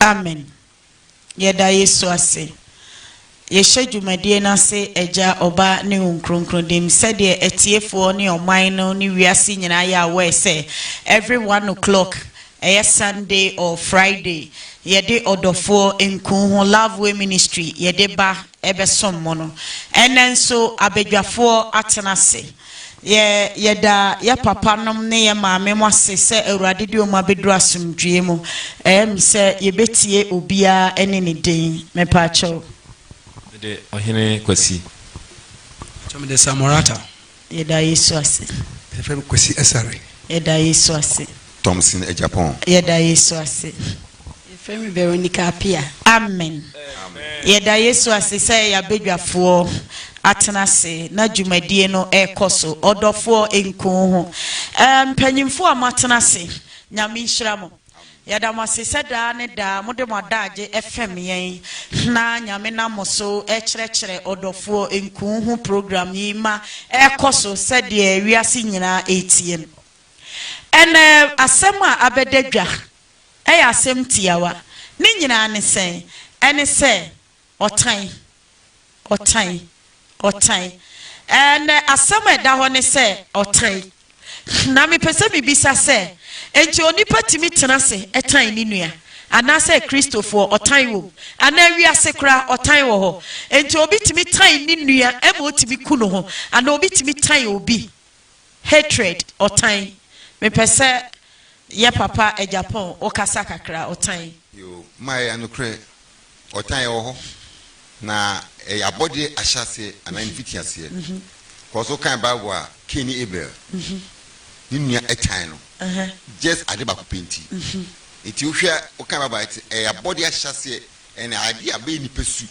Amen Yɛda Yesu ase Yɛhyɛ dwumadie no ase Agya, Ɔba ne Wo Nkronkron Dim Sɛdeɛ atiefoɔ ne ɔman no ne wiase nyinaa yɛ aware sɛ every one o'clock ɛyɛ Sunday or Friday yɛde ɔdɔfoɔ nku ho Love Way Ministry yɛde ba ɛbɛsom mo no. Ɛnnɛ nso abadwafoɔ atena ase. Yɛ, yɛda yɛ papanom ne yɛ maamenom ase sɛ Awurade de wɔn abɛduru asomdwoeɛ mu. Ɛyɛ me sɛ yɛbɛtie obiara ne ne din. Mepakyɛw. Mede Ɔhene Kwasi. Pakyɛw, mede Samorata. Yɛda Yesu ase. Yɛfrɛ me Kwasi Asare. Yɛda Yesu ase. Thompson Agyapong. Yɛda Yesu ase. Yɛfrɛ me Veronica Apia. Amen. Yɛda Yesu ase sɛ yɛn abadwafoɔ atena ase na dwumadie no rekɔ so. Ɔdɔfoɔ, nku wo ho. Ɛɛ, mpanyimfoɔ a moatena ase, Nyame nhyira mo. Yɛda mo ase sɛ daa ne daa mode mo adaagye fam yɛn. Na Nyame nam mo so rekyerɛkyerɛ ɔdɔfoɔ nkuu ho program yi ma ɛrekɔ so sɛdeɛ wiase nyinaa retie no. Ɛnnɛ asɛm a abɛda dwa yɛ asɛm tiawa. Ne nyinaa ne sɛn? Ɛne sɛ Ɔtan. Ɔtan. Ɔtan. Ɛnɛ asɛm a ɛda hɔ ne sɛ, ɔtan. Na mepɛ sɛ mibisa sɛ, Enti onipa tumi tena ase tan ne nua? Anaasɛ Kristofoɔ, ɔtan wom? Anaa wiase koraa, ɔtan wɔ hɔ? Enti obi tumi tan ne nua ma otumi ku ne ho? Anaa obi tumi tan obi Hatred, ɔtan, mepɛ sɛ yɛ papa Agyapong wo kasa kakra, ɔtan. Yoo, Maya yɛ nokorɛ, ɔtan ɛwɔ hɔ, na ɛyɛ abɔdeɛ ahyɛaseɛ anaa ne mfitiaseɛ, cause wo kan Bible a Cain ne Abel ne nua ɛtan no just ade baako pɛ nti, nti wo hwɛ a wo kan Bible a ɛte ɛyɛ abɔdeɛ ahyɛaseɛ Ɛna ade a bɛyɛ nipa su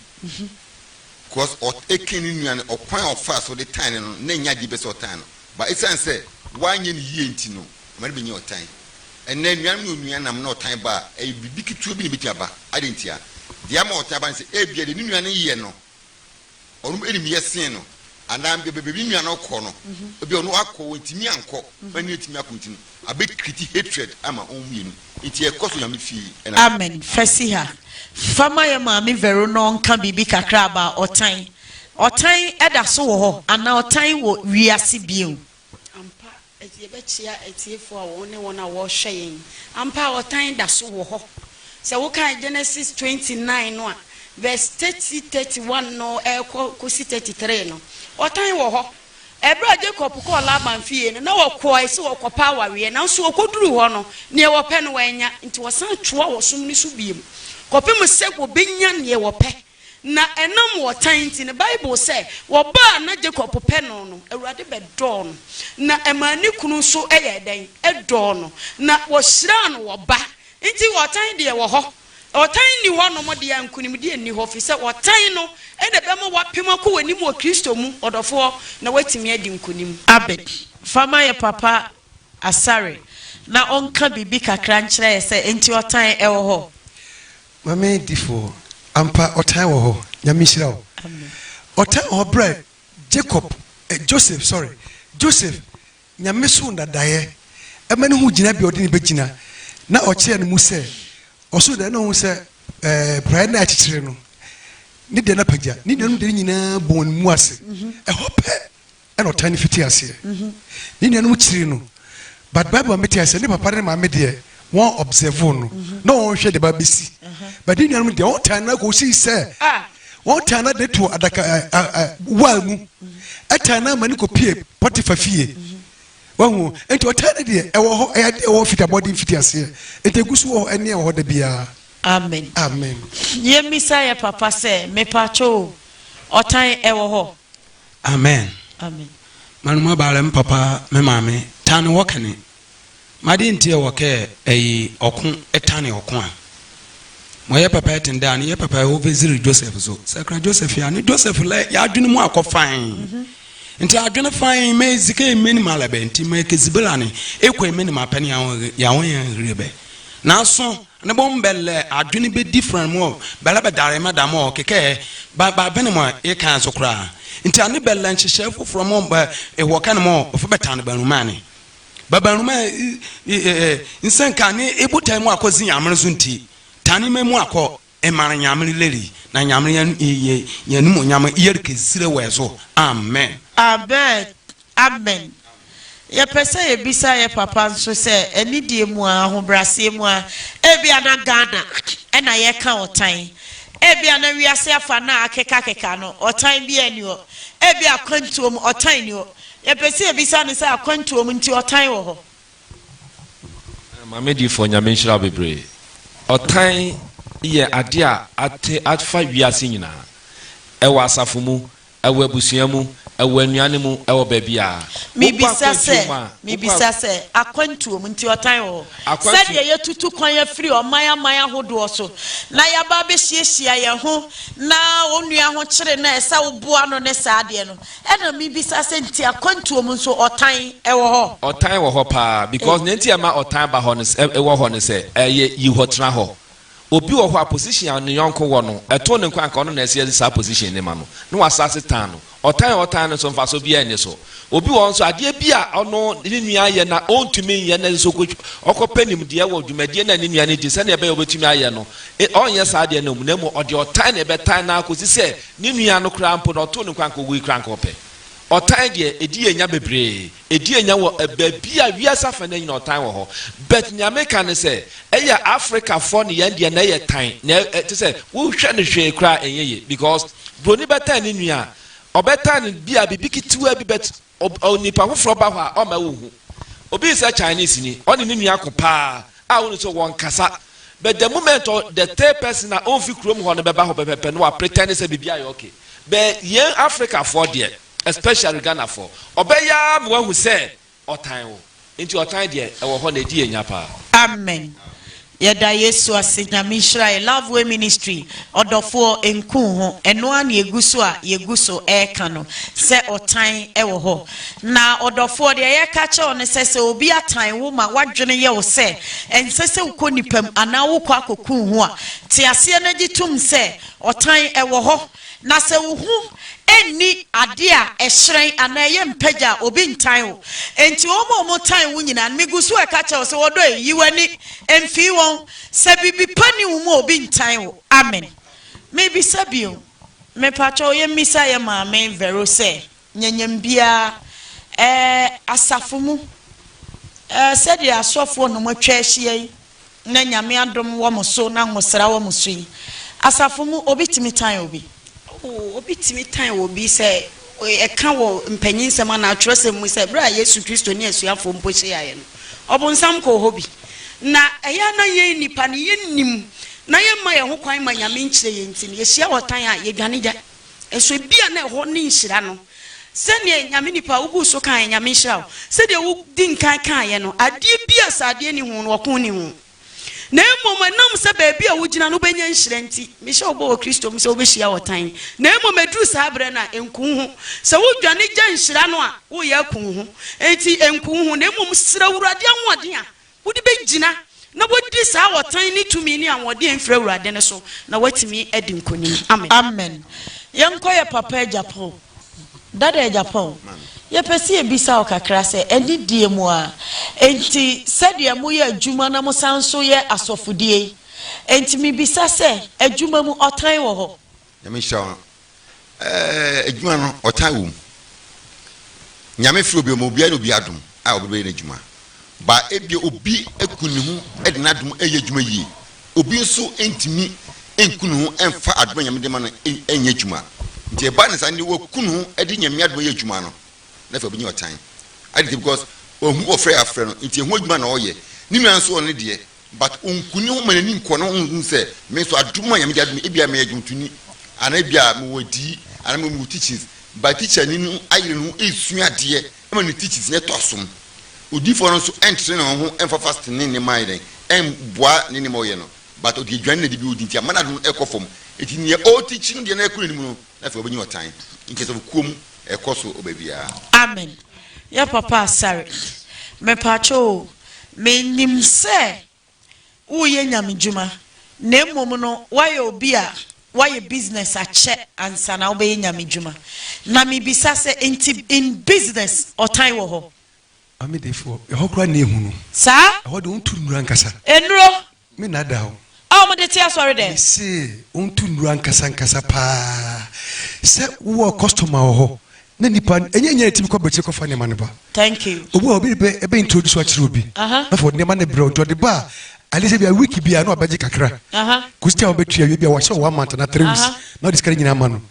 cos ɔt ɛken ne nua no ɔkwan a ɔfaa so de tan no no na ɛnyɛ adeɛ bi sɛ ɔtan no but ɛsiane sɛ wanyɛ no yie nti no ɛma no bɛnya ɔtan ɛnɛ anuanom ne onua nam na ɔtan ba a ɛyɛ biribi ketewa bi na ɛbɛtumi aba adɛn ntia deɛ ama ɔtan ba no sɛ ebia deɛ ne nua no yɛ no ɔnom enim yɛ sen no anaa mbɛ bɛbɛ bi nua no ɔkɔ no ebi ɔno akɔ wɔn ntumi ankɔ wɔn ani etumi akɔ nti no abɛ kiriti hatred ama wɔn mmienu nti ɛkɔ so nyame fie ɛna. Amen fasiha fa ma yɛ maame vero no ɔnka biribi kakra about ɔtan ɔtan ɛda so wɔ hɔ anaa ɔtan wɔ wiase bio. Ampa. Enti yɛbɛkyia atiefo a wɔn ne wɔn a wɔrehwɛ yɛn. Ampa ara ɔtan da so wɔ hɔ. Sɛ wokan Genesis twenty nine no a, verse thirty, thirty one no rekɔ kosi thirty three no, ɔtan wɔ hɔ. Bere a Jacob kɔɔ Laban fie no, na ɔkɔe sɛ ɔrekɔpɛ awareɛ, nanso ɔkɔduruu hɔ no, nea ɔpɛ no wannya. Enti ɔsan toaa ɔsom no so bio kɔpem sɛ ɔbɛnya nea ɔpɛ. Na ɛnam ɔtan nti no, Bible sɛ, Ɔba a na Jakob pɛ no no, Awurade bɛdɔɔ no, na ɛmaa ne kunu nso yɛɛ dɛn? Dɔɔ no, na wɔhyiraa no wɔ ba. Nti ɔtan deɛ wɔ hɔ. Ɔtan nni hɔnom deɛ a, nkonimdie nni hɔ, firi sɛ ɔtan no na ɛbɛma w'apem akɔ w'anim wɔ Kristo mu, ɔdɔfoɔ, na woatumi adi nkonim. Abed, fa ma yɛ papa Asare na ɔnka biribi kakra nkyerɛ yɛ sɛ nti ɔtan wɔ hɔ. Mame difoɔ ampa ɔtan wɔ hɔ nyame nhyira wo ɔtan wɔ hɔ bra Jacob eh Joseph sorry Joseph nyame soro dadaeɛ ɛma no hu gyinabea ɔde no bɛgyina na ɔkyerɛ no mu sɛ ɔsoro dadaeɛ na ɔhu sɛ eh praeɛ na akyekyere no ne deɛ no apagya ne nuanom deɛ no nyinaa bɔ wɔn mu ase ɛhɔ pɛ ɛna ɔtaa no fiti aseɛ ne nuanom kyiri no but bible ma mete aseɛ ne papa ne maame deɛ wɔn observe no na wɔn hwɛ deɛ ba bɛsi but ne nuanom deɛ wɔn taa no akɔ si sɛ wɔn taa no de to adaka waa mu ɛtaa no ama ne kɔ pie pɔtifa fie wahu nti ɔtaa no deɛ ɛwɔ hɔ ɛyɛ adeɛ ɛwɔ fiti abɔden fiti aseɛ nti egu so wɔ hɔ ɛne ɛwɔ hɔ da biara amen amen yɛmmisa yɛ papa sɛ mepatwo ɔtan ɛwɔ hɔ Amen manu ma baale me papa me maame tane wɔ kɛne ma de nti ɛwɔ kɛ ɛyi ɔko ɛtane ɔko a mo yɛ papa ɛten dɛ ane yɛ papa ɛwɔ veziri Joseph so sakra Joseph ya ne Joseph lɛ yɛ adwene mu akɔ fan nti adwene fan mɛ zike mɛni ma lɛ bɛ nti mɛ kɛ zibela ne ekɔ mɛni ma pɛni yawon yɛn hiri bɛ na so Ne bɔ mbɛ lɛ adwen bɛ different mɔ bɛ lɛ bɛ dare mɛ da mɔ kekɛ ba ba bɛne mɔ e kan so koraa nti ane bɛ lɛ nhyehyɛɛ foforɔ mɔ bɛ e wɔ kɛne mɔ ɔfɛ bɛ tane bɛ nwoma ane bɛ bɛ nwoma e e e nsɛnka ane e botae mɔ akɔ zi Nyamere so nti tane mɛ mɔ akɔ e mare Nyamere lɛri na Nyamere yɛ yɛ yɛ animonyam yɛre kɛ zire wɛ so Amen. Abed Amen. Yɛpɛ sɛ yɛbisa yɛ papa nso sɛ anidie mu a, ahobraseɛ mu a, ebia na Ghana na yɛka ɔtan. Ebia na wiase afa no a akekakeka no, ɔtan biara nni hɔ. Ebia akwantuo mu, ɔtan nni hɔ. Yɛpɛ sɛ yɛbisa no sɛ akwantuo mu nti ɔtan wɔ hɔ? Maame Difoɔ Nyame nhyira wo bebree. Ɔtan yɛ adeɛ a ate afa wiase nyinaa. Ɛwɔ asafo mu, Ɛwɔ abusua mu, ɛwɔ anuane mu, ɛwɔ baabiara. Wokɔ Mebisa sɛ, akwantuo mu a, wokɔ mebisa sɛ, akwantuo mu nti ɔtan wɔ hɔ? Akwantuo. Sɛdeɛ yɛtutu kwan afiri ɔman aman ahodoɔ so na yɛaba abɛhyiahyia yɛn ho na onua ho kyere no a ɛsɛ woboa no ne saa adeɛ no, ɛna mebisa sɛ nti akwantuo mu nso ɔtan wɔ hɔ? Ɔtan wɔ hɔ paa because nea nti a ɛma ɔtan ba hɔ no sɛ, ɛwɔ hɔ no sɛ, ɛyɛ yi hɔ tena hɔ. Obi wɔ hɔ a position a ne yɔnko wɔ no, ɛtoo no nko anka ɔno na ɛsɛ saa position no ma no, na wasan ase tan no. Ɔtan a ɔtan no nso mfaso biara nni so. Obi wɔ hɔ nso a adeɛ bi a ɔno ne nua yɛ na ɔntumi nyɛ na ɛsɛ sɛ ɔkɔ ɔkɔpɛ nimdeɛ wɔ dwumadie no a ne nua no di sɛdeɛ ɛbɛyɛ a ɔbɛtumi ayɛ no, ɔrenyɛ saa adeɛ no mmom, na mmom ɔde ɔtan na ɛbɛtan no ara kɔsi sɛ ne nua no koraa mpo no ɔtoo no nko anka ɔwei koraa anka ɔpɛ. Ɔtan deɛ, ɛdi yɛn nya bebree. Edi anya wɔ baabi a wiase afa nyinaa nyinaa ɔtan wɔ hɔ but nea meka ne sɛ ɛyɛ Africa foɔ ne yɛn deɛ na ɛyɛ tan na te sɛ wohwɛ no hwee koraa ɛnyɛ yie because broni bɛtan ne nua a ɔbɛtan no bia biribi ketewaa bi but onipa foforɔ ba hɔ a ɔmma wohu obi sɛ Chinese ni ɔne ne nua ko paa a wone sɛ wɔn kasa but the moment the third person a ɔmfi kurom hɔ no bɛba hɔ pɛpɛpɛ no wa pretend sɛ biribi ayɛ okay but yɛn Africa foɔ deɛ Especially Ghana foɔ. Ɔbɛyɛ ara ma wahu sɛ ɔtan wo. Nti ɔtan deɛ ɛwɔ hɔ na ɛdi yɛn nya paa. Amen yɛda yesu ase nyame nhyira yɛ love way ministry ɔdɔfoɔ nku wo ho ɛno ara na yɛguso a yɛguso ɛɛka no sɛ ɔtan ɛwɔ hɔ na ɔdɔfoɔ deɛ yɛka akyerɛ wo no sɛ sɛ obi atan wo ma wadwene yɛ wo sɛ ɛnsɛ sɛ wokɔ nipam anaa wokɔ akɔku wo ho a te aseɛ na gye tom sɛ ɔtan ɛwɔ hɔ Na sɛ wo ho nni ade a ɛhyerɛn anaa ɛyɛ mpagya a, obi ntan wo. Enti wɔn a wɔtan wo nyinaa no, migu so reka kyerɛ wo sɛ, wɔdɔ yɛn, yi w'ani mfi wɔn. Sɛ biribi pa nni wo mu a, obi ntan wo. Amen. Mebisa bio. Mepakyɛw yemmisa yɛn maame Vero sɛ, Nyɛnyɛm biara ɛɛ asafo mu ɛɛ sɛdeɛ asɔfoɔ nom atwa ahyia yi na Nyame adom wɔn so na nwosra wɔn so yi, asafo mu obi tumi tan obi? Oo, obi tumi tan obi sɛ ɛka wɔ mpanyinsɛm anaa atwerɛsɛm mu sɛ berɛ a Yesu Kristo ne asuafoɔ mpo hyiaeɛ no, ɔbonsam kɔɔ hɔ bi. Na ɛyɛ a na yɛn nnipa no yɛnnim na yɛmma yɛn ho kwan mma Nyame nkyerɛ yɛn nti no, yɛhyia ɔtan a, yɛdwane gyae. Nso ebia na ɛhɔ ne nhyira no. Sɛdeɛ Nyame nipa a woguu so kaeɛ, Nyame nhyira wo, sɛdeɛ wodi nkan kaeɛ no, adeɛ bi a sɛ adeɛ nni ho no, ɔko nni ho. Na mmom ɛnam sɛ baabi a wogyina no wobɛnya nhyira nti, mehyɛ wo bɔ wɔ Kristo mu sɛ wobɛhyia ɔtan. Na mmom ɛduru saa berɛ no a, nku wo ho. Sɛ wodwane gya nhyira no a, woreyɛ aku wo ho. Enti nku wo ho, na mmom srɛ Awurade ahoɔden a Wode bɛgyina na woadi saa ɔtan ne tumi ne ahoɔden a ɛmfiri Awurade no so, na woatumi adi nkonim. Amen. Amen. Yɛnkɔ yɛ papa agya pa o. Dada agya pa o. Yɛpɛ sɛ yɛbisa wo kakra sɛ, anidie mu a, enti sɛdeɛ moyɛ adwuma na mosan nso yɛ asɔfodie yi, enti mebisa sɛ, adwuma mu, ɔtan wɔ hɔ? Nyame nhyira wo eh adwuma no ɔtan wɔ mu Nyame frɛ obi ɔma obiara ne obi adom a ɔde bɛyɛ n'adwuma ba ebia obi aku ne ho de n'adom ɛyɛ adwuma yie obi nso ntumi nku ne ho mfa adom a Nyame de ma no ɛnyɛ adwuma nti ɛba ne saa ne waku ne ho de Nyame adom ɛyɛ adwuma no na afei ɔbɛnya ɔtan adi nti because ɔhu ɔfrɛ afrɛ no nti ɛho adwuma na ɔyɛ ne nua nso ɔne deɛ But onku ne ho ma n'ani nkɔ na onhu sɛ me nso adom a Nyame de adom me, ebia meyɛ dwontoni anaa ebia mewɔ adiyie anaa mewɔ mewɔ teachings but teacherni no ayere ne ho ɛresua adeɛ ma ne teachings no atɔ asom. Odiyifoɔ no nso ɛntrene ne ho ɛmfa fasting ne nneɛma ayɛ dɛn ɛmboa ne nneɛma a ɔyɛ no but ɔde aduane na ɛdi bi ɔdi nti ama n'adom no ɛrekɔ fam. Enti nea ɔreteachi no deɛ no ɛrekɔ n'anim no Na afei ɔbɛnya ɔtan nti sɛ kuo mu ɛkɔ so ɔbɛ biara. Amen yɛ papa asare. Mepakyɛ o me nim sɛ wo yɛ nyame dwuma na mmom no wayɛ obi a wayɛ business akyɛ ansa na wo bɛyɛ nyame dwuma na me bisa sɛ nti in business ɔtan wɔ hɔ. Maame Defoɔ, ɛhɔ koraa nna ehunu. Saa. Ɛhɔ deɛ wɔntu nnuru ankasa. Nnuro. Me nna da hɔ. A wɔde te asɔredɛm. Me se wɔntu nnuru ankasa ankasa paa. Sɛ wowɔ customer wɔ hɔ na nnipa, ɛnyɛ nyɛ na ɛtumi kɔ aburokyire kɔfa nneɛma no ba. Thank you. Obi wɔ hɔ, obi de bɛ ɛbɛ introduce wo akyerɛ obi. Aha. Afei ɔde nneɛma no brɛ wo nti ɔde ba a ade sɛ bia week bia na ɔbɛgye kakra kɔsi a wɔbɛtwi awie bia wɔahyɛ one month na three weeks na ɔde sika no nyinaa ma no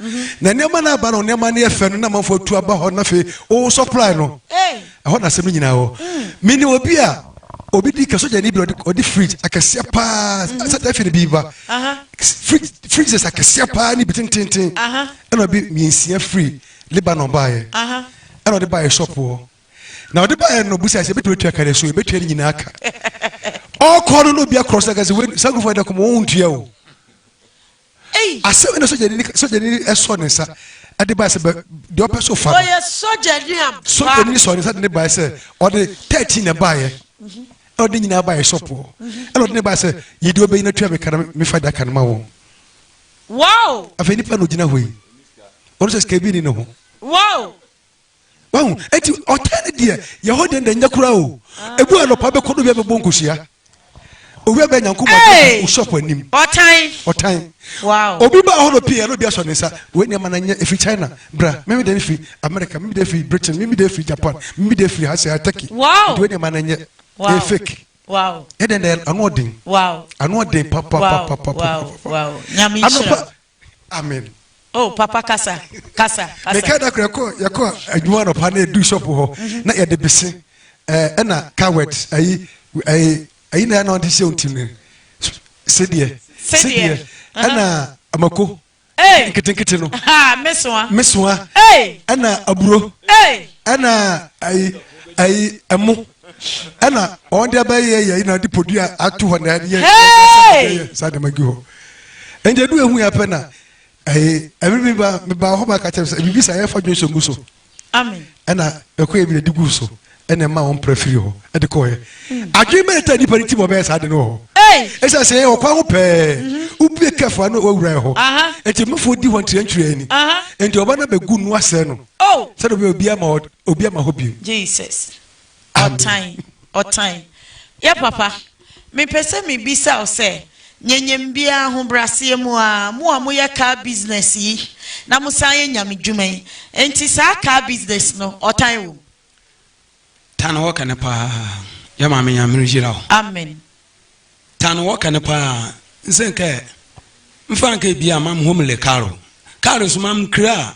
na nneɛma no aba no nneɛma no yɛ fɛ no na amanfoɔ atu aba hɔ na afei wo supply no ɛhɔ na asɛm no nyinaa hɔ mene obi a obi di ka sogyani bi ɔde fridge akɛseɛ paa sɛ da fi no bi ba fridges akɛseɛ paa ne bi tententen ɛna ɔbi mmiɛnsia firi Lebanon baeɛ ɛna ɔde baeɛ shop hɔ na ɔde baeɛ no ɔbusa sɛ ɛbɛtumi atua ka ne so ɛbɛtua ne nyinaa ka ɔkɔ no na obi akorɔ so ka sɛ saa nkurɔfoɔ ɛdɛ kɔmɔ wɔn ntua o asɛm na sogyani sogyani ɛsɔ ne nsa ɛde baeɛ sɛ deɛ ɔpɛ so fa ɔyɛ sogyani a sogyani sɔ ne nsa de ne baeɛ sɛ ɔde thirteen na baeɛ ɛna ɔde nyinaa baeɛ sɔpoɔ ɛna ɔde ne baeɛ sɛ yɛde ɔbɛyi na tua mi ka na mi fa da ka no ma wɔn wow afei nipa na ogyina hɔ yi ɔno sɛ sika bi ni ne ho wow. wahu eti ɔtaa ne deɛ yɛ hɔ deɛ nyɛ koraa o ebu anɔpa bɛkɔ no wia bɛbɔ nkohyia owia bɛ nyanko mu adi shop anim ɔtan ɔtan obi ba hɔ no pii ɛno bi asɔ ne nsa wei nneɛma na nyɛ efi china bra mimi de efi america mimi de efi britain mimi de efi japan mimi de efi hasi ataki ɛdi wei nneɛma na nyɛ ɛyɛ fake ɛdɛn dɛ ano ɔden ano ɔden papapapapapa anɔpa. Amen. Oh papa kasa kasa kasa. Meka da kura kɔ yɛ kɔ adwuma anɔpa na edu shop hɔ mhm. na yɛde bese ɛɛ ɛna coward ayi ɛyi ɛyi na yɛ na ɔde hyɛ wɔn ti no sedeɛ sedeɛ ɛna amako nketenkete no mesoa ɛna aburo ɛna ayi ayi ɛmo. ɛna wɔn de abɛyɛ yɛ na de podua ato hɔ na ɛde yɛ yɛ saa dɛm agi hɔ ɛnti edu ehu yɛ apɛ na ɛyɛ ɛbi mi ba mi ba hɔ ba kakyɛ sɛ ebi bi sa yɛ fa dwon so mu so ɛna ɛkɔ ebi na di gu so ɛna ɛma wɔn pere firi hɔ ɛde kɔ yɛ adwene mɛ ɛtɛ nipa ne ti bɔ bɛyɛ saa de no wɔ hɔ ɛsɛ sɛ yɛ ɔkwan ho pɛɛ wubie kɛfo ano wawura yɛ hɔ ɛti mufo di hɔ ntiri ntiri ɛni ɛnti ɔba na bɛ gu nu asɛ no sɛ de bi obi ama Obi ama hɔ bio. Jesus ɔtan ɔtan yɛ papa me pɛ sɛ me bisa wo sɛ nyɛ nyɛ me biaa ahobraseɛ mu aa mo a mo yɛ car business yi na mo san yɛ nyame dwuma yi nti saa car business no ɔtan wɔ mu. Tan hɔ kɛne paa yɛ maame nyame nhyira wo. Amen ta no wɔka no paa nsɛ nkɛ mfa nkɛ bia mam hom le karo karo so mam kra a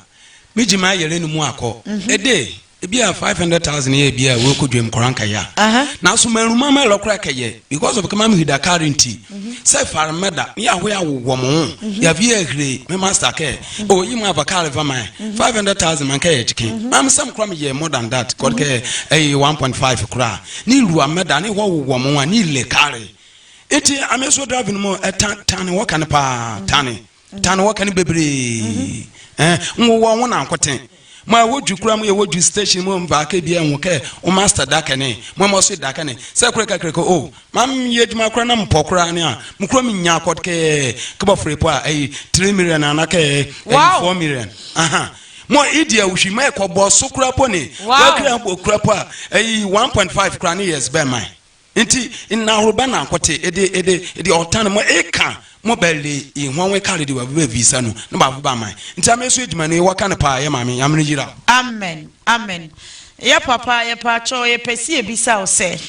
megye ma yɛrɛ no mu akɔ ɛde ebi a five hundred thousand yɛ ebi a wɔ kɔ dwam kora nkɛ ya na so mɛru mam ɛrɛ kora kɛ yɛ because of kɛ mam hida karo nti sɛ far mɛda yɛ aho yɛ awo wɔm ho yɛ vi yɛ hire me master kɛ o yi mu ava karo va man five hundred thousand man kɛ yɛ gyike mam sɛm kora me yɛ more than that kɔd kɛ ɛyɛ one point five kora ne nrua mmɛda ne hɔ wowɔ mo a ne ile kare nti ame so drive no mu ɛta tane wɔ kane paa tane tane wɔ kane bebree ɛn nwowɔ ho na nkoten mo a ɛwɔ dwi kura mo yɛwɔ dwi station mu mfa kɛ bia ɛho kɛ wo master da kɛne mo a mɔso da kɛne sɛ kore kakra kɛ o ma yɛ adwuma kora na mpɔ kora ne a mo kura me nya akɔd kɛ kɛbɔ fere po a ɛyi 3 million anakɛ ɛyi 4 million aha Mo idi awuhwi ma ɛkɔ bɔ so kura po ne wakira bɔ kura po a ɛyi one point five kura ne years bɛn man nti nnahoro bɛn na nkote ɛde ɛde ɛde ɔtan mo eka mo bɛle ihwa wɔn kare de wabu bɛ visa no ne baafo ba man nti ame so edwuma no ewɔ ka ne paa yɛ maame nyamere yira. Amen amen yɛ papa yɛpaakyɛw yɛpɛ si ebisaw sɛ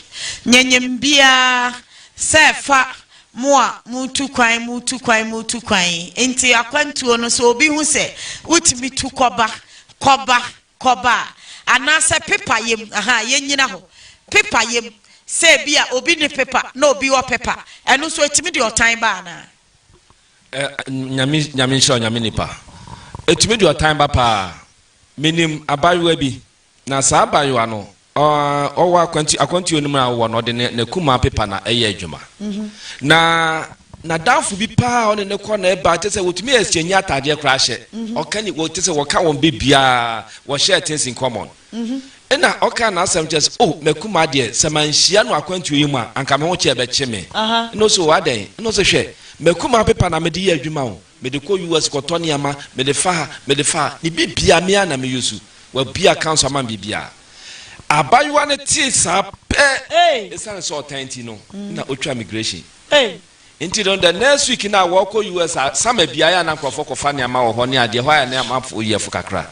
nyɛ nyɛm biaa sɛ fa Mo a moretu kwan, moretu kwan, moretu kwan yi, enti akwantuo no, sɛ obi hu sɛ wotumi tu kɔba, kɔba, kɔba a, anaasɛ pepa yam, ahaa, yɛnnyina hɔ, pepa yam, sɛ ebia obi nni pepa na obi wɔ pepa, ɛno nso ɛtumi de ɔtan ba anaa? Ɛ, Nyame, Nyame nhyira wo, Nyame nipa. Ɛtumi de ɔtan ba paa. Menim abaayewa bi, Na saa abaayewa no, ɔwɔ akwantu, akwantuo no mu a ɔwɔ no, ɔde ne n'akumaa pepa na ɛyɛ adwuma. Na n'adamfo bi paa a ɔne no kɔ na ɛba, te sɛ wɔtumi exchange ataadeɛ koraa hyɛ. Ɔka ni, te sɛ wɔka wɔn bɛ biara, wɔ share things in common. Ɛna ɔkaa n'asɛm kyerɛ sɛ, oh, m'akumaa deɛ, sɛ manhyia no akwantuo yi mu a, anka me ho kyɛ ɛbɛkye me. Ɛna ɔse, oh, adɛn? Ɛna ɔse, hwɛ, m'akumaa pepa na mede yɛ adwuma o. Mede kɔ US kɔtɔ nneɛma, mede fa ha, mede fa ha. Ne biribiara me ara na me use. Wabue accounts ama me biribiara. Abaayewa no tee saa pɛ, esiane sɛ ɔtan nti no, na otwa migration. Enti no, the next week no a wɔrekɔ US a, summer biara yɛ a na nkurɔfoɔ kɔfa nneɛma wɔ hɔ ne adeɛ, ɛhɔ ayɛ nneɛma fo yɛ fo kakra.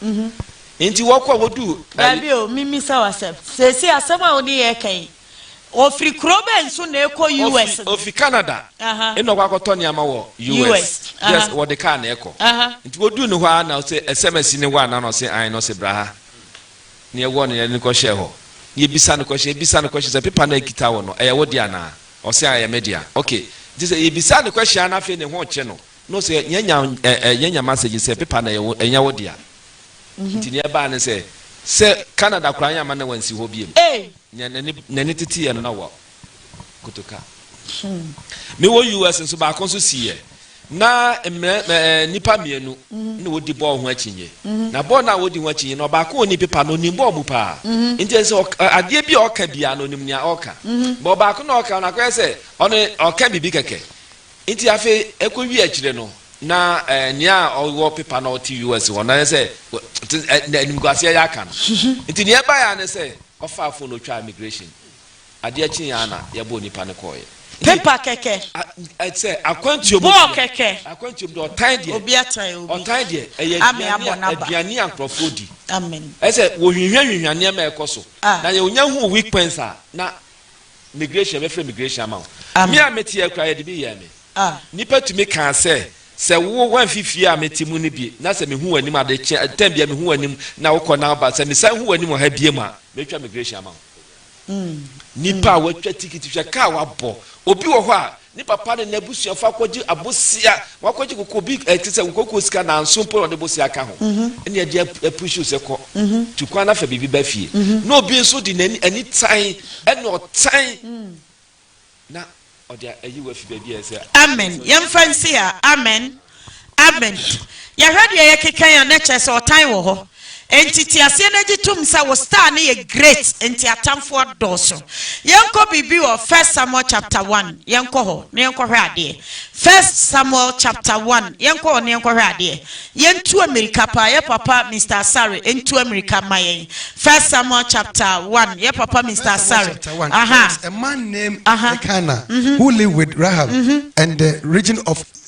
Enti wɔkɔ a, wɔduu. Dabi o, memmisa wo asɛm. Seesei asɛm a wo ne yɛn reka yi, Ɔfiri kuro bɛn so na ɛkɔ US no? Ɔfiri Canada na ɔkɔ akɔtɔ nneɛma wɔ US. Yes, wɔde kaa na ɛkɔ. Nti wɔduu ne hɔ ara na ɔse, ɛsɛm asi ne hɔ anaa? Na ɔse, aane. Na ɔse, bra ha na yɛwɔ no, yɛde no kɔhyɛɛ hɔ. Na yɛbisa no question, yɛbisa no question sɛ, pepa no a ɛkita wo no, ɛyɛ wo dea anaa? Ɔse, aane, ɛyɛ me dea. Ok. Nti sɛ yɛbisaa no question ara na afei ne ho rekye no, na ɔse, yɛanya, yɛanya message sɛ pepa no ɛyɛ wo, ɛnyɛ wo dea. Nti nea ɛbaa ne sɛ, sɛ Canada koraa yɛamma na wansi hɔ biom. Nea n'ani n'ani teteɛ no na wa kotoka. Me wɔ US nso baako nso siiɛ na mmerɛ ɛɛ eh, nipa mmienu na wɔdi bɔɔl ho akyinye na bɔɔl na wɔdi ho akyinye na ɔbaako ɔni pepa na ɔnim bɔɔl mu paa nti ɛsɛ sɛ adeɛ bi a ɔka biara na ɔnim nea ɔka bɔ ɔbaako na ɔka na akɔyɛ sɛ ɔne ɔka biribi kɛkɛ Nti afei ɛkɔ wie akyire no na nea ɔwɔ pepa na ɔte US hɔ no ayɛ sɛ animguaseɛ yɛ aka no. Nti nea ɛbaeɛ ara ne sɛ ɔfaa phone ɔtwaa immigration. Adeɛ kyeeɛ ara na yɛbɔɔ nipa no kɔeɛ. Pepa kɛkɛ. Sɛ akwantuo mu deɛ. Bɔɔ kɛkɛ. Akwantuo mu deɛ ɔtan deɛ. Obi atan obi. Ɔtan deɛ ɛyɛ aduane a nkurɔfoɔ di. Amen. Ɛyɛ sɛ wɔhwinhwa hwinhwa nneɛma a ɛkɔ so. Na yɛ ɔnya huu weak points a na Migration, mɛfrɛ migration ama wo. Me a mete ha koraa, yɛde bi yɛɛ me. Nnipa tumi kaa sɛ, Sɛ wo, woamfi fie a mete mu no bi, na sɛ mehu w'anim ade kye, tɛm biara mehu w'anim na wokɔ na woba, sɛ mesan hu w'anim wɔ ha biom a, mɛtwa migration ama wo. Nnipa a wɔatwa tikiti hwɛ, kaa a wɔabɔ. Obi wɔ hɔ a, Ne papa ne n'abusuafo akɔgye abosea, wɔakɔgye koko bi a ɛte sɛ koko sika nanso mpo na wɔde bosea ka ho ne ɛde apuruhyi wo sɛ kɔ, tu kwan na fa biribi ba fie. Na obi nso de n'ani, anitan ne ɔtan na ɔde ayi wo afi baabi a ɛsɛ. Amen! Yɛmfa nsi ha. Amen! Amen. Yɛhwɛ deɛ yɛkeka yi a na kyerɛ sɛ ɔtan wɔ hɔ. Enti te aseɛ na gye tom sɛ wo star no yɛ great nti atamfoɔ dɔɔso. Yɛnkɔ biribi wɔ First Samuel chapter one yɛnkɔ hɔ na yɛnkɔhwɛ adeɛ. First Samuel chapter one yɛnkɔ hɔ na yɛnkɔhwɛ adeɛ. Yɛntu amirika paa yɛ papa Mister Asare ntu amirika mma yɛn. First Samuel chapter one yɛ papa Mister First Samuel Asare. chapter 1, there Aha. was a man named Aha. Elkanah Mhm. who lived with Rahab Mhm. and the region of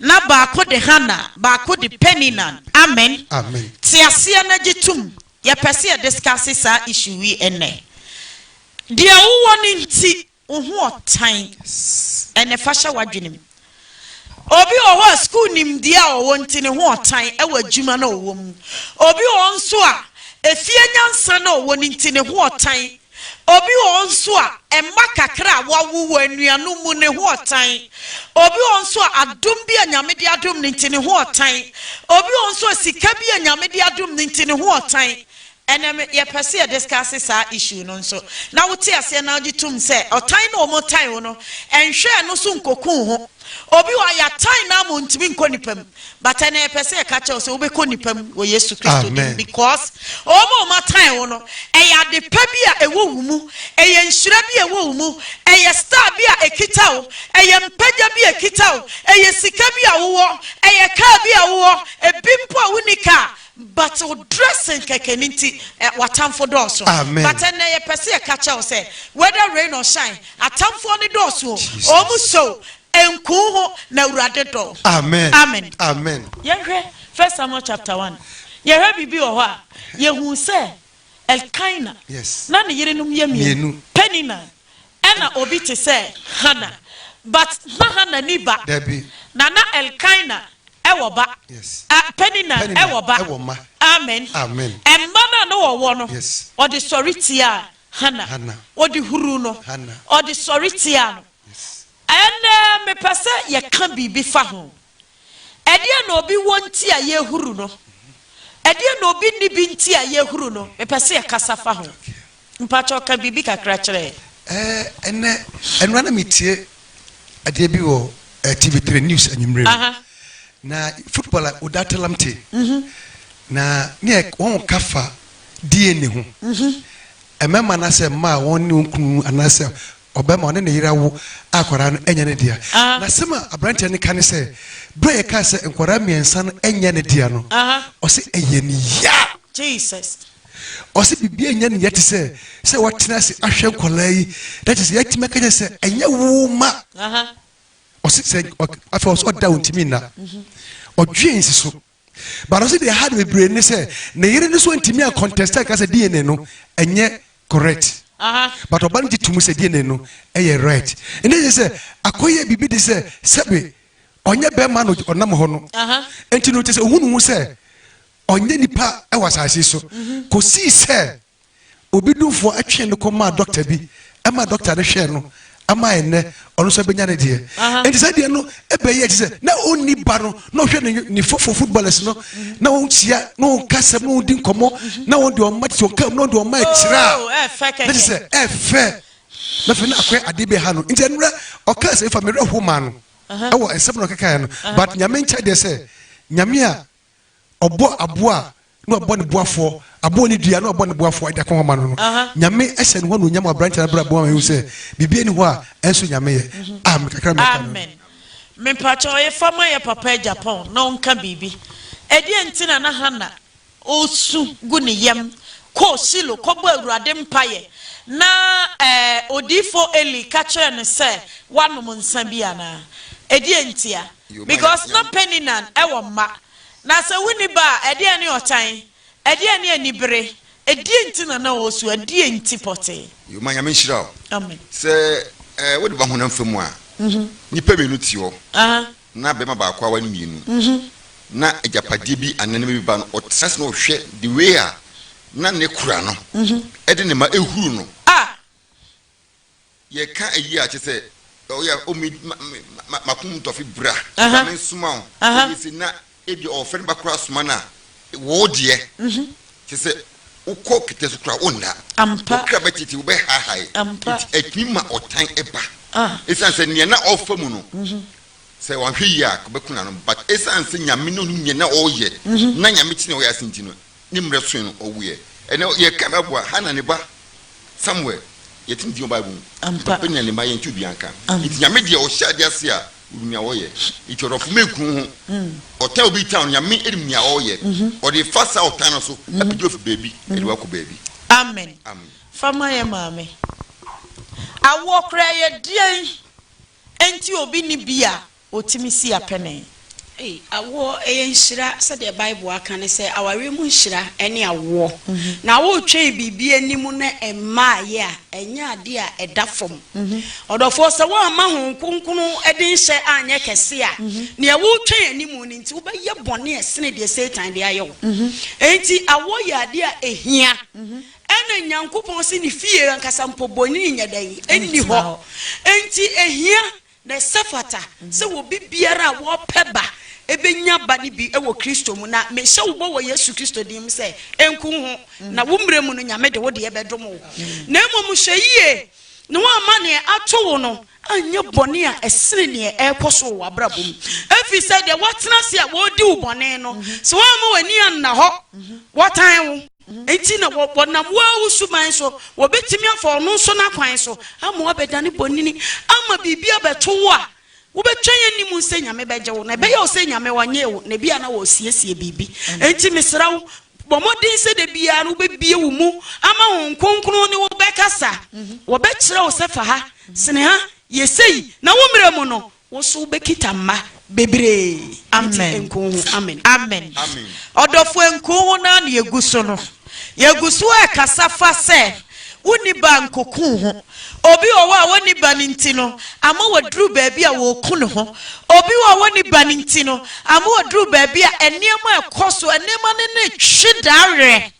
na baako de Hana, baako de Penina. Amen. Amen. Te aseɛ na gye tom. Yɛpɛ sɛ yɛ discuss saa issue yi ɛnnɛ. Deɛ wowɔ no nti wo ho ɔtan. Ɛnɛ fa hyɛ w'adwenem. Obi wɔ hɔ a school nimdeɛ a ɔwɔ nti ne ho ɔtan ɛwɔ adwuma na ɔwɔ mu. Obi wɔ hɔ nso a efie nyansa na ɔwɔ no nti ne ho ɔtan Obi wɔ hɔ nso a, mma kakra a wɔawo wɔ anuanom mu ne ho ɔtan. Obi wɔ hɔ nso a, adom bi a Nyame de adom no nti ne ho ɔtan. Obi wɔ hɔ nso a, sika bi a Nyame de adom no nti ne ho ɔtan. Ɛnɛ me, yɛpɛ sɛ yɛ discuss saa issue no nso, na wote aseɛ na wogye tom sɛ ɔtan no a wɔtan wo no, nhwɛ ɛno so nkoku wo ho. Obi wɔ a yɛatan no ama ɔntumi nkɔ nnipa mu but ɛnɛ yɛpɛ sɛ yɛka kyerɛ wo sɛ wobɛkɔ nnipa mu wɔ Yesu Kristo din mu because wɔn a wɔatan wo no ɛyɛ ade pa bi a ɛwɔ wo mu, ɛyɛ nhyira bi a ɛwɔ wo mu, ɛyɛ star bi a ɛkita wo, ɛyɛ mpagya bi a ɛkita wo, ɛyɛ sika bi a wowɔ, ɛyɛ kaa bi a wowɔ, ebi mpo a wonni kaa But wo dressing kɛkɛ no nti eh w'atamfo dɔɔso Amen. But ɛnnɛ yɛpɛ sɛ yɛka kyerɛ wo sɛ whether rain or shine atamfoɔ no dɔɔso o Jesus. Wɔn so o ɛnku wo ho na Awurade dɔ wo Amen. Amen. Amen. Yɛnhwɛ First Samuel chapter one. Yɛhwɛ biribi wɔ hɔ a, yɛhu sɛ Elkana. Na ne yerenom yɛ mmienu, Penina ɛna obi te sɛ Hana. But na Hana nni ba. Na na Elkana wɔ ba. Penina wɔ ba. Amen. Mma no a na ɔwɔ no, ɔde sɔre tiaa Hana. Ɔde huruu no. Ɔde sɔre tiaa no. Ɛnnɛ mepɛ sɛ yɛka biribi fa ho. Ɛdeɛn na obi wɔ nti a yɛhuru no? Ɛdeɛn na obi nni bi nti a yɛhuru no? Mepɛ sɛ yɛkasa fa ho. Mpakyɛw ka biribi kakra kyerɛ yɛn. Ɛnnɛ, ɛno ara na metie adeɛ bi wɔ TV3 news anwummerɛ mu. Aha. Na footballer Oda Telamte, na ne yɛ, wɔka fa DNA ho. Mmarima anaasɛ mmaa a wɔne wɔn kunu anaasɛ Ɔbɛma ɔne ne yere awo akwadaa no nyɛ ne dea. N'asɛm a aberanteɛ no ka ne sɛ, Berɛ a yɛkaa sɛ nkwadaa mmiɛnsa no nyɛ ne dea no, ɔse, Ɛyɛɛ no ya! Ɔse, Biribiara nyɛ no ya te sɛ sɛ watena ase ahwɛ nkwadaa yi, na kyerɛ sɛ yɛatumi aka kyerɛ no sɛ, Ɛnyɛ wo mma! Ɔse, Afei ɔse, Ɔda a ɔntumi nna. Ɔdwen si so. but ɔsɛ deɛ ɛha de bebree ne sɛ ne yere no so ntumi a contest a ɛka sɛ dna no ɛnyɛ correct but ɔba no gye to mu sɛ dna no ɛyɛ right ɛnna yɛ sɛ akɔyɛ biribi de sɛ sɛbe ɔnyɛ bɛrima no ɔnam hɔ no nti no kyɛ sɛ ɔhu ne ho sɛ ɔnyɛ nipa wɔ asase so mhm. kɔsii sɛ Obi dumfoɔ twee no kɔmaa dɔkta bi ma dɔkta no hwɛɛ no ma ɛnnɛ ɔno nso abɛnya ne deɛ. Enti saa deɛ no ɛbɛyɛ te sɛ na ɔnni ba no na ɔhwɛ ne ne fofo footballers no na wɔnhyia na wɔnka asɛm na wɔdi nkɔmmɔ na wɔn deɛ ɔma te sɛ ɔka mu na wɔn deɛ ɔma ɛkyerɛ a oh, na te sɛ ɛfɛ na fɛ na akɔyɛ adeɛ bi ha no nti ɛnura ɔka asɛm fa mmerɛ ho maa no ɛwɔ nsɛm na ɔkekaeɛ no but nyame nkyɛ deɛ sɛ nyame a Ɔbɔ aboa a, nna ɔbɔ no boafoɔ, aboa a ɔnni dua a, nna ɔbɔ no boafoɔ de akɔhoma no no. Nyame hyɛ ne ho anuonyam wɔ aberanteɛ no abrabɔ mu ama yɛhu sɛ biribiara nni hɔ a ɛnso Nyame yɛ. Amen. Kakra a mɛka no no. Mepakyɛ ɔyefa ma yɛ papa agya pɔn na ɔnka biribi. Ɛdeɛn nti na na Hana ɔresu gu ne yam kɔɔ Shilo kɔbɔɔ Awurade mpaeɛ na odiyifoɔ Eli ka kyerɛɛ no sɛ, Woanom nsã bi anaa? Ɛdeɛn ntia? Because na Peninan wɔ mma. Na sɛ wonni ba a, ɛdeɛn ne ɔtan? Ɛdeɛn ne anibere? Ɛdeɛn nti na na ɔresu? Ɛdeɛn nti pɔtee? Yoma Nyame nhyira wo. Amen. Sɛ wode ba honam fa mu a, nnipa mmienu te hɔ, na barima baako aware mmienu, na agyapadeɛ bi anaa nneɛma bi ba no, ɔtena ase na ɔhwɛ the way a na ne kora no de ne mma huru no. Ah! Yɛka eyi a, kyerɛ sɛ, ɔyɛ a omi ma me ma m'akomam tɔ afe bra, bra me nsoma wo. Eye se na ebia ɔɔfɛ ne ba koraa asoma no a, woo deɛ, kyerɛ sɛ, wokɔ kɛtɛ so koraa a, wonna. Wo kra bɛtete, wobɛhaahae. Enti etumi ma ɔtan ba. Esiane sɛ nea na ɔɔfa mu no, sɛ wanhwɛ yie a, anka ɔbɛko n'ano. But esiane sɛ Nyame ne Ɔnim nea na ɔɔyɛ, na Nyame te nea ɔyɛ ase nti no, Ne mmerɛ soe no, ɔwuiɛ. Ɛnnɛ, yɛka no aboa, Hana ne ba Samuel. Yɛte ne din wɔ Bible mu. Ampa. Peniel ne mma, yɛnte obiara nka. Ampa. Enti Nyame deɛ, Ɔhyɛ adeɛ ase a, Onim nea ɔyɛ. Enti ɔdɔfo mmɛn kunu ho. Ɔtan obi tan no, Nyame nim nea ɔreyɛ. Ɔde fa saa ɔtan no so, apagya wo afi baabi, de wo akɔ baabi. Amen. Amen. Fa ma yɛn maame. Awoɔ koraa yɛ deɛn nti obi nni bi a. Otumi si apɛnee. Ei, awoɔ, ɛyɛ nhyira. Sɛdeɛ Bible aka no sɛ, awareɛ mu nhyira ne awoɔ. Na woretwɛn biribi anim na ɛmmaeɛ a, ɛnyɛ adeɛ a ɛda fam. Ɔdɔfoɔ, sɛ woamma Honhom Kronkron de nhyɛ anyɛ kɛse a, deɛ woretwɛn anim no nti, wobɛyɛ bɔne a ɛsene deɛ Satan de ayɛ wo. Enti awoɔ yɛ adeɛ a ɛhia. Ɛna Nyankopɔn se ne fie ankasa mpo, bonini nyɛ dɛn? Nni hɔ. Enti ɛhia Na ɛsɛ fata sɛ obi biara a wɔpɛ ba bɛnya ba no bi wɔ Kristo mu. Na mehyɛ wo bɔ wɔ Yesu Kristo din mu sɛ, ɛnku wo ho, na wo mmerɛ mu no Nyame de wo deɛ bɛdom wo. Na mmom hwɛ yie na woamma deɛ ato wo no anyɛ bɔne a ɛsene deɛ ɛrekɔ so wɔ w'abrabɔ mu. Ɛfiri sɛ deɛ woatena ase a wɔredi wo bɔne no, sɛ woamma w'ani anna hɔ, wɔtan wo. Enti na wɔnam wo ara wo suban so, wɔbɛtumi afa ɔno nso n'akwan so ama woabɛdane bonini, ama biribi abɛto wo a wobɛtwɛn anim sɛ Nyame bɛgye wo. Na ɛbɛyɛ wo sɛ Nyame ɔnyee wo, na ebia na ɔresiesie biribi. Enti mesrɛ wo, bɔ mmɔden sɛ da biara no wobɛbue wo mu ama Honhom Kronkron ne wo bɛkasa. Wɔbɛkyerɛ wo sɛ fa ha, sene ha, yɛ sei, na wo mmerɛ mu no, Wo nso wobɛkita mma bebree nti nko wo ho. Amen. Amen. Ɔdɔfoɔ nko wo ho no ara na yɛgu so no. Yɛgu so rekasa fa sɛ wonni ba a nkoku wo ho. Obi wɔ hɔ a ɔnni ba no nti no ama waduru baabi a ɔreku ne ho. Obi wɔ hɔ a ɔnni ba no nti no ama ɔduru baabi a nneɛma a ɛkɔ so, nneɛma no no retwe da werɛ.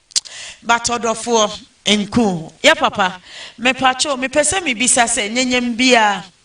But ɔdɔfoɔ nko wo ho. Yɛ papa. Mepakyɛw mepɛ sɛ mebisa sɛ nyɛnyɛm biara.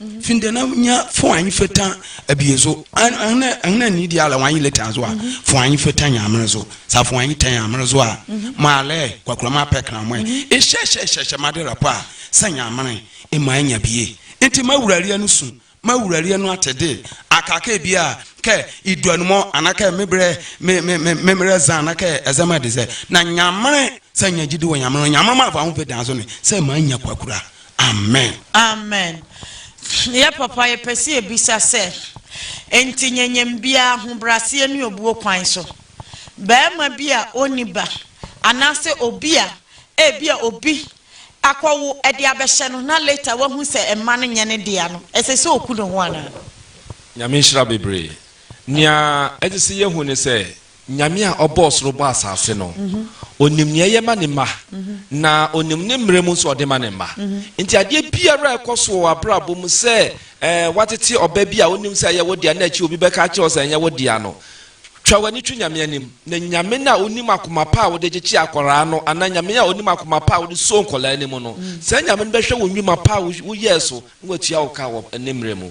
Findɛ na nya fo anyi feta abie so ɛhene ɛhene ani di ala wanyi leta so a fo anyi feta nya amere so sa fo anyi tɛn amere so a ma alɛ kwakura ma pɛ kra mɔɛ ehyɛ hyɛ hyɛ hyɛ ma de rapɔ a sɛ nya amere ema anya bie nti ma wurareɛ no su ma wurareɛ no ate de aka kɛ bia kɛ idu anumɔ ana kɛ me brɛ me me me me mmerɛ zan ana kɛ ɛzɛ ma de sɛ na nya amere sɛ nya gyidi wɔ nya amere nya amere ma afa ho feta so ne sɛ ma anya kwakura Amen. Amen yɛ papa yɛpɛ sɛ yɛbisa sɛ nti nyɛnyɛm biaa ahobraseɛ ne obuo kwan so barima bi a ɔnni ba anaasɛ obi a ebia obi akɔwo ɛde abɛhyɛ no na later wahu sɛ mma no nyɛ ne dea no ɛsɛ sɛ ɔku ne ho anaa? Nyame nhyira bebree. Nea ɛsɛ sɛ yɛhu ne sɛ, Nyame a ɔbɔɔ soro bɔɔ asase no, ɔnim nea ɛyɛ ma ne mma, na ɔnim ne mmerɛ mu nso a ɔde ma ne mma. Enti adeɛ biara a ɛkɔ so wɔ w'abrabɔ mu, sɛ ɛɛ woatete ɔba bi a wonim sɛ ɛyɛ wo dea na akyire obi bɛka akyerɛ wo sɛ ɛnyɛ wo dea no, twa w'ani to Nyame anim, na Nyame no a ɔnim akoma pa a wode gyekye akwadaa no, anaa Nyame a ɔnim akoma pa a wode soo nkwadaa no mu no, saa Nyame no bɛhwɛ wo nnwuma pa a woyɛɛ so Na watua wo ka wɔ Ne mmerɛ mu.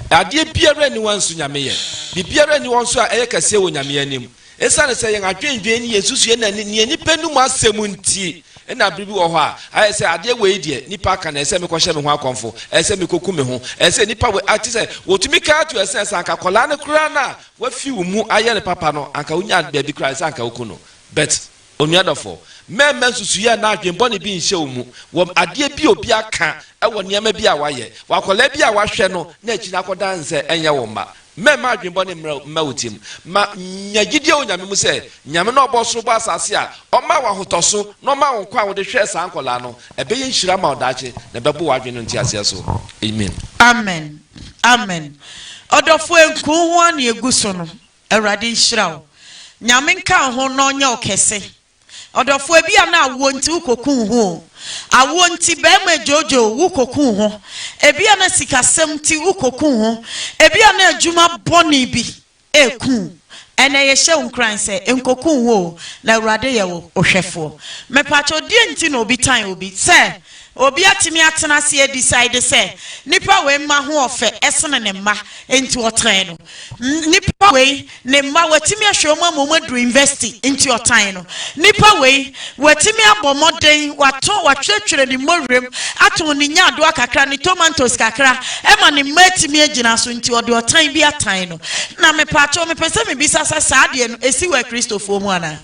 Na adeɛ biara nni hɔ a nso Nyame yɛ. Biribiara nni hɔ nso a ɛyɛ kɛseɛ wɔ Nyame anim. Esiane sɛ yɛn adwendwen ne yɛn nsusuiɛ na ne neɛ nipa num asɛm nti, nna bere bi wɔ hɔ a, ayɛ sɛ adeɛ wei deɛ, nnipa aka no, ɛsɛ sɛ mekɔhyɛ me ho akɔmfo, ɛsɛ sɛ mekɔku me ho, ɛsɛ sɛ nnipa wei a, te sɛ wɔtumi ka ara to ɛsɛ sɛ sɛ anka akwadaa no koraa no a wafi wo mu ayɛ no papa no, anka wonya baabi koraa a, ɛsɛ sɛ anka woku no. But Onua dɔfo, mɛmma nsusuiɛ anaa adwemmɔne bi nhyɛ wo mu wɔ adeɛ bi a obi aka wɔ nneɛma bi a wayɛ wɔ akwadaa bi a wahwɛ no na akyiri no akɔda no sɛ ɛnyɛ wo mma. Mɛmma adwemmɔne mmra mma wo tirim. Ma nya gyidie wɔ Nyame mu sɛ Nyame no a ɔbɔɔ soro bɔɔ asase a ɔmaa wo ahotɔso na ɔmaa wo nkwa a wode hwɛɛ saa nkwadaa no, ɛbɛyɛ nhyira ama wo daakye na ɛbɛbo w'adwene no nteaseɛ so. Amen. Amen. Amen. Ɔdɔfo, nkurow ho a na yɛgu so no, Awurade nhyira wo. Nyame nka wo ho na ɔnyɛ wo kɛse. Ɔdɔfoɔ ebi a na awoɔ nti wo kɔ ku wo ho oo. Awoɔ nti bɛɛma adwoodwo wo wo kɔ ku wo ho. Ebi a na sikasɛm nti wo kɔ ku wo ho. Ebi a na adwuma bɔne bi ɛɛku wo. Ɛnɛ yɛhyɛ wo nkuran sɛ nkɔ ku wo ho oo na Awurade yɛ wo ohwɛfoɔ. Mepakyɛw deɛn nti na obi tan obi? Sɛ Obi atumi atena ase a decide sɛ nipa wei mma ho ɔfɛ sene ne mma nti ɔtan no. Nipa wei ne mma watumi ahwɛ wɔn ama wɔn aduru university nti ɔtan no. Nipa wei watumi abɔ mmɔden watɔn watwerɛtwerɛ ne mmɔwerɛm atɔn ne nyaadoa kakra ne tomantos kakra ma ne mma atumi agyina so nti ɔde ɔtan bi atan no. Na mepaakyɛw mepɛ sɛ mebisa sɛ saa adeɛ no ɛsi wɔ akristofoɔ mu anaa?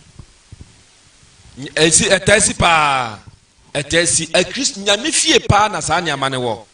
Ɛsi, ɛtaa si paa. Ɛtaa si Akristo Nyame fie paa na saa nneɛma no wɔ.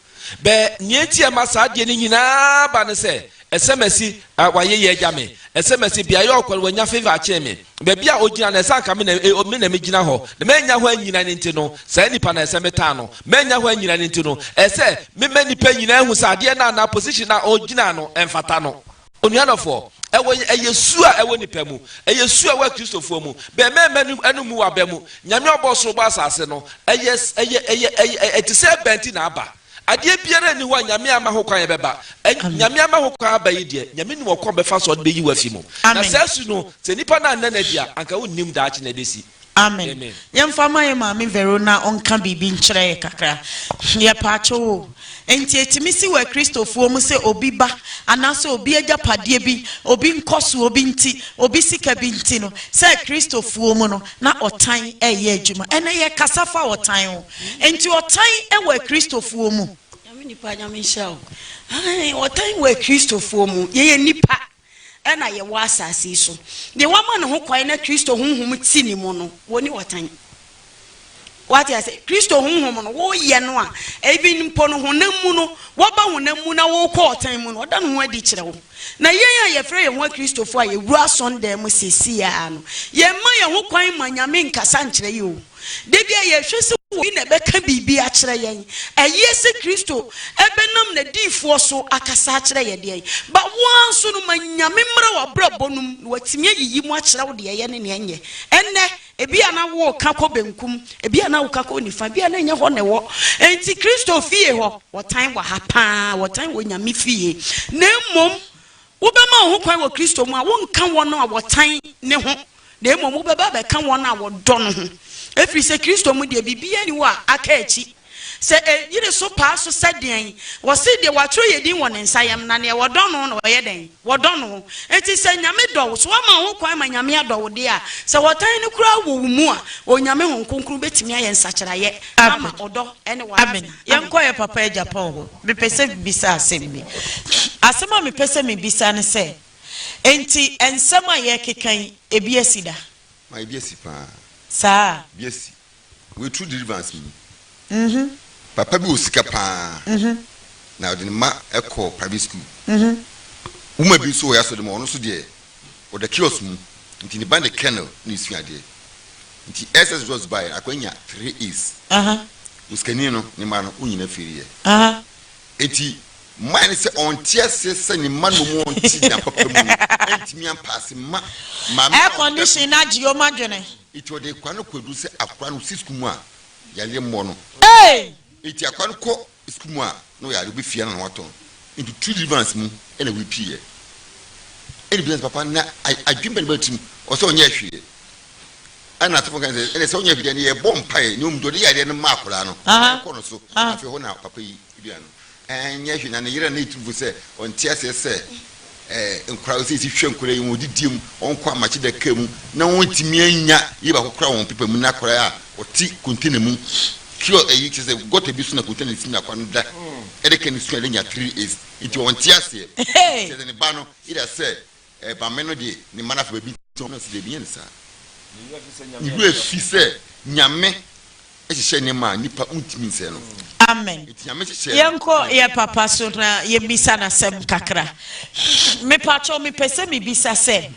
Bɛ, nea enti a ɛma saa adeɛ no nyinaa ba ne sɛ, ɛsɛ masi a w'ayeyɛ agya me, ɛsɛ masi beaeɛ a ɔkɔ no wanya favor akyɛn me, baabi a ɔgyina no ɛsɛ anka me na e, me na megyina hɔ, na mannya hɔ annyina no nti no, saa nipa no ɛsɛ metan no, mannya hɔ annyina no nti no, ɛsɛ mema nnipa nyinaa hu sɛ adeɛ no anaa position no a ɔgyina no ɛmfata no. Onua dɔfoɔ, ɛwɔ yɛ, ɛyɛ su a ɛwɔ nipa mu, ɛyɛ su a ɛwɔ Akristofoɔ mu, bɛ mɛɛma no, ɛno mmu w'abɛ mu. Nyame a ɔbɔɔ soro bɔɔ asase no, ɛyɛ, ɛyɛ, ɛyɛ, ɛyɛ, ɛyɛ, ɛte sɛ ɛba nti na aba. Adeɛ biara nni hɔ a Nyame amma ho kwan a ɛbɛba. Ɛ, Amen. Nyame ama ho kwan aba yi deɛ, Nyame nim ɔkwan a ɔbɛfa so a ɔde bɛyi wo afi mu. Na Amen. saa su no, sɛ nipa no annɛ no adi a, anka wonnim daakye na ɛbɛsi. Amen. Yɛmfa ma yɛn maame Vero na ɔnka biribi nkyerɛ yɛn kakra. Yɛpaakyɛw o. Enti etumi si wɔ Akristofoɔ mu sɛ obi ba anaasɛ obi agyapadeɛ bi, obi nkɔsoɔ bi nti, obi sika bi nti no, sɛ Akristofoɔ mu no, na ɔtan reyɛ adwuma. Ɛnnɛ yɛkasa fa ɔtan ho. Enti ɔtan wɔ Akristofoɔ mu? Nyame nipa, Nyame nhyira wo. Aane, ɔtan wɔ Akristofoɔ mu. Yɛyɛ nnipa. na yɛwɔ asase yi so. Deɛ wama no ho kwan na Kristo Honhom te ne mu no, wɔnni ɔtan. Wate ase? Kristo Honhom no, woyɛ no a, even mpo no honam mu no, woaba honam mu na worekɔ ɔtan mu no, ɔda ne ho adi kyerɛ wo. Na yɛn a yɛfrɛ yɛn ho Akristofoɔ a yɛwura asɔndan mu seesei ara no, yɛmma yɛn ho kwan mma Nyame nkasa nkyerɛ yɛn o. Da biara yɛhwɛ sɛ obi na ɛbɛka biribi akyerɛ yɛn. Ɛyeɛ sɛ Kristo ɛbɛnam nadiyifoɔ so akasa akyerɛ yɛ deɛn? But wo ara nso no ma Nyame mmra w'abrabɔ no mu na watumi ayiyi mu akyerɛ wo deɛ ɛyɛ ne nea ɛnyɛ. Ɛnnɛ ebia na woka kɔ benkum, ebia na woka kɔ nifa, ebia na ɛnyɛ hɔ na ɛwɔ. Enti Kristo fie hɔ, wɔtan wɔ ha paa, wɔtan wɔ Nyame fie. Na mmom wobɛma wo ho kwan wɔ Kristo mu a, wonka wɔn a wɔtan ne ho. na mmom wobɛba abɛka wɔn a wɔdɔ no ho, ɛfiri sɛ Kristo mu deɛ, biribiara nni hɔ a aka akyi. Sɛ ɛyiri so paa so sɛ deɛn? Wɔse deɛ wɔatwerɛ yɛn din wɔ ne nsa yam, na deɛ wɔdɔ no na wɔyɛ dɛn? Wɔdɔ no. Enti sɛ Nyame dɔ wo, so woama ho kwan ma Nyame adɔ wo deɛ a, sɛ wɔtan no koraa wɔ wo mu a, Onyame Honhom Kronkron bɛtumi ayɛ nsakyeraeɛ ama ɔdɔ ne wo asetena. Amen. Yɛnkɔ yɛn papa Agya Paul hɔ. Mepɛ sɛ bisa asɛm bi. Asɛm a mepɛ sɛ mebisa ne sɛ, Enti nsɛm a yɛrekeka yi, ebi asi da? Ma ebi asi paa. Saa? Bi asi. Wei True Deliverance mu ni. Mm-hmm. Papa bi wɔ sika paa. Mm-hmm. Na ɔde ne mma kɔ private school. Mm-hmm. Woman bi nso wɔ yɛn asɔre mu a, ɔno nso deɛ, ɔda kiosk mu. Nti ne ba ne Colonel na esua adeɛ. Nti SS results baeɛ no, akwadaa nya three A's. Uh-huh. Osikani no, ne mma no, wɔn nyinaa firiiɛ. Uh-huh. Enti, mmae ne sɛ ɔnte ase sɛ ne mma nnom a ɔnte nna papa mu no antumi ampa ase mma maame a ɔda so no ntumi nnom. Enti ɔde akwadaa no kɔ aduru sɛ akwadaa no si sukuu mu a yareɛ mmɔ no. Enti akwadaa no kɔ sukuu mu a na ɔyare ɔbɛ fie ara na watɔ no. Enti true deliverance mu na wei pii yɛ. Ɛna obisa sɛ papa na adwene bɛn na ɛba ne tirim ɔsɛ ɔnyɛɛ hwee yɛ. Ɛna asɔfo no kae sɛ, Ɛnde sɛ wonya fidua no, yɛbɔ mpae na wɔn de ɔde yareɛ no ma akwadaa no, na yɛkɔ no so. Afei hɔ na papa yi duaa no. Ɛnyɛ hwee, na ne yere a na ɛyɛ tumfoɔ sɛ ɔnte aseɛ sɛ nkwadaa sɛ yɛsi hwɛ nkwadaa yi, wɔn didie mu, wɔnkɔ amakye daka mu, na wɔntumi annya yei baako koraa wɔ wɔn pepa mu, na akwadaa a ɔte container mu, kiosk, ɛyi kyerɛ sɛ gutter bi so na container no si na akwadaa no da, ɛde ka ne su a na anya three years, nti ɔnte aseɛ. Kyerɛ sɛ ne ba no yera sɛ Ɛba me no deɛ ne mma no afa baabi tɔn. Ɛna ɔsi dabi nyɛ ne saa. Ne werɛ fi sɛ Nyame yɛ ɔdɔ. Ne werɛ fi sɛ Nyame hyehyɛ nneɛma a nnipa wontumi nsɛe no. Amen. Nti Nyame hyehyɛɛ no. Yɛnkɔ yɛ papa so na yɛmmisa no asɛm kakra. Mepakyɛw mepɛ sɛ mebisa sɛ,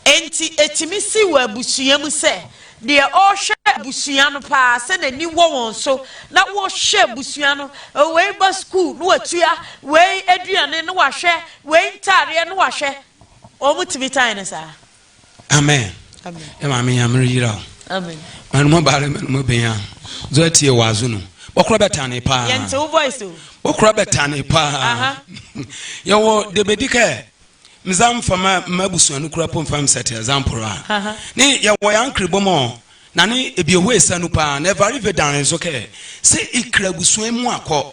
enti ɛtumi si wɔ abusua mu sɛ deɛ ɔhwɛ abusua no paa sɛ n'ani wɔ wɔn so na wɔhwɛ abusua no, wei ba sukuu na watua, wei aduane na wahwɛ, Wei ntaadeɛ no wahwɛ. Wɔn tumi tan no saa. Amen. Amen. Maame nyame reyira o. Amen. Manu mo baare manu mo benya. Zo etie wazo no. Wɔkora bɛtane paa. Yɛnte wo voice o. Wɔkora bɛtane paa. Yɛwɔ debedi kɛ mza mfama mma busua no kura po mfam sɛte example a. Ne yɛwɔ yɛ ankere bom o. Na ne ebieho esanu paa. Na ɛvare vedan nso kɛ se ikra busua mu akɔ.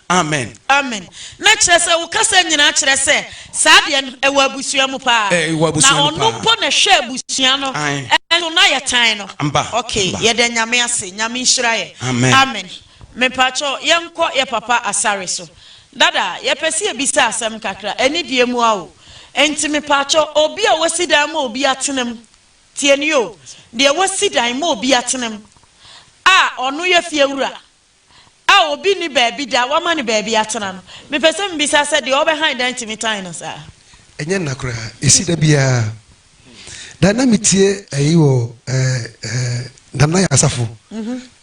Amen. Amen. Na kyerɛ sɛ wo kasa nyinaa kyerɛ sɛ saa deɛ no ɛwɔ abusua mu paa. Eh, ɛwɔ abusua mu paa. Na ɔno mpo na ɛhwɛ abusua no. Amen. Ɛno na yɛ tan no. Mba. Okay, mba. yɛda nyame ase, nyame nhyira yɛ. Amen. Amen. Mepakyɛw yɛnkɔ yɛ papa asare so. Dada, yɛpɛ sɛ yɛbisa asɛm kakra, ɛne deɛ mu a o. Enti mepakyɛw obi a wasi dan ma obi atena mu, tie nie o, deɛ wasi dan ma obi atena mu a ɔno yɛ fiewura. a obi nni baabi da a wɔama no baabi atena no, mepɛ sɛ mibisa sɛ deɛ ɔbɛhan dan tumi tan no saa? Ɛnyɛ nna koraa. Ɛsi da biara da. Na metie ayi wɔ Nana Asafo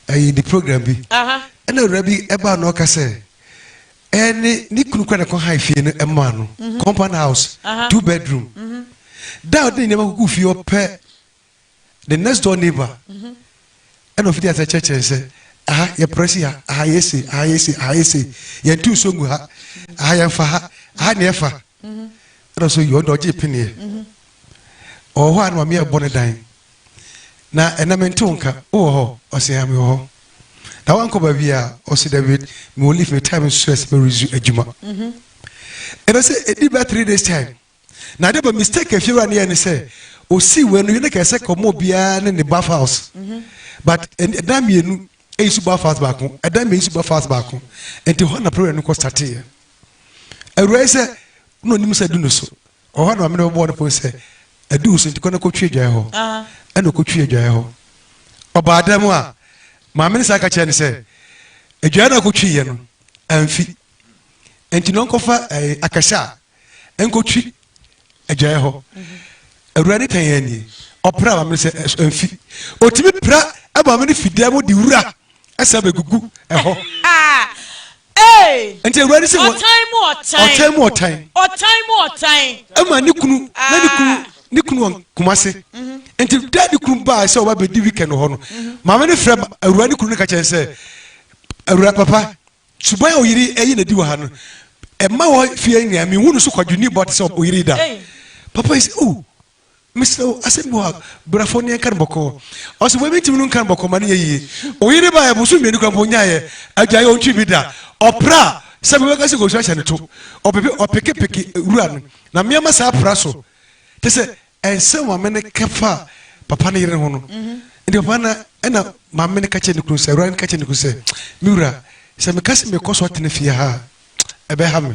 ayi ne program bi, ɛna awura bi ɛbaa na ɔka sɛ ɛyɛ ne ne kunu kura na kɔ han fie no ɛmaa no compound house two bedroom da a ɔde ne nneɛma kuku fie ɔpɛ the next door neighbor ɛna ofiti ase kyerɛkyerɛ sɛ aha yɛ prɛsi ha aha yɛ se aha yɛ se aha yɛ se yɛn tu nso ngu ha aha yɛn fa ha aha na ɛfa ɛna nso yɛ ɔdɔ ɔgye pineɛ ɔwɔ hɔ a na maame yɛ bɔ ne dan na ɛna me ntew nka wowɔ hɔ ɔsɛ ya mewɔ hɔ na wankɔ baabi a ɔsɛ david mewɔ leave me time nso ɛsɛ mɛresu adwuma ɛna sɛ ɛdi bɛ three days time na ade ba mistake afiewura ne yɛ ne sɛ osii wei no yɛ ne kɛɛ sɛ kɔma obiara ne ne bath house but ɛdan mmienu eyi so bath house baako ɛdan mmienu so bath house baako nti hɔ na problem no kɔ startee yɛ awura yi sɛ na onim sɛ du no so ɔhɔ na maame no bɛbɔɔ no pon sɛ adu so nti kɔ na kɔtwi adwae hɔ ah. ɛna ɔkɔtwi adwae hɔ ɔbaa dɛm a maame no saa ka kyerɛ no sɛ adwae no a kɔtwi yɛ no amfi nti na ɔnkɔfa eh, akɛsɛ a ɛnkɔtwi agyaeɛ hɔ awurade tan yɛn nie ɔpra maame no sɛ ɛmfi ɔtumi pra maame no fidan mu de wura ɛsɛ bɛgugu ɛhɔ nti awurade sɛ ɔtan mu ɔtan ɔtan mu ɔtan ɔtan mu ɔtan ɛma ne kunu na ne kunu ah. ne kunu wɔn kuma se mhm. nti da ne kunu baa sɛ ɔba bɛdi weekend hɔ no mhm. maame no frɛ awura ne kunu no ka kyɛn sɛ awura papa Suban a oyiri ɛyi na di wɔ ha no ɛma wɔ fie nua mi hu no so kwadwo ni bɔ te sɛ oyiri da papa yi sɛ oh mesrɛ wo asɛm bi wɔ ha brafo ne ɛnka no bɔkɔɔ ɔsɛ wɔ mi ntimi no nka no bɔkɔɔ ma ne yɛ yie oyiri ba yɛ boso mmienu kura mpo nya yɛ adwa yɛ ontwi bi da ɔpra sɛ bɛbɛ ka sɛ kɔsu ahyɛ ne to ɔpeke peke wura no na mmeɛma saa pra so te sɛ Ɛnsɛ maame no kɛfa papa no yere ho no nti papa na ɛna maame no ka kyerɛ ne kunu sɛ awurade no ka kyerɛ ne kunu sɛ me wura sɛ meka sɛ mekɔ so atena fie ha a ɛbɛha me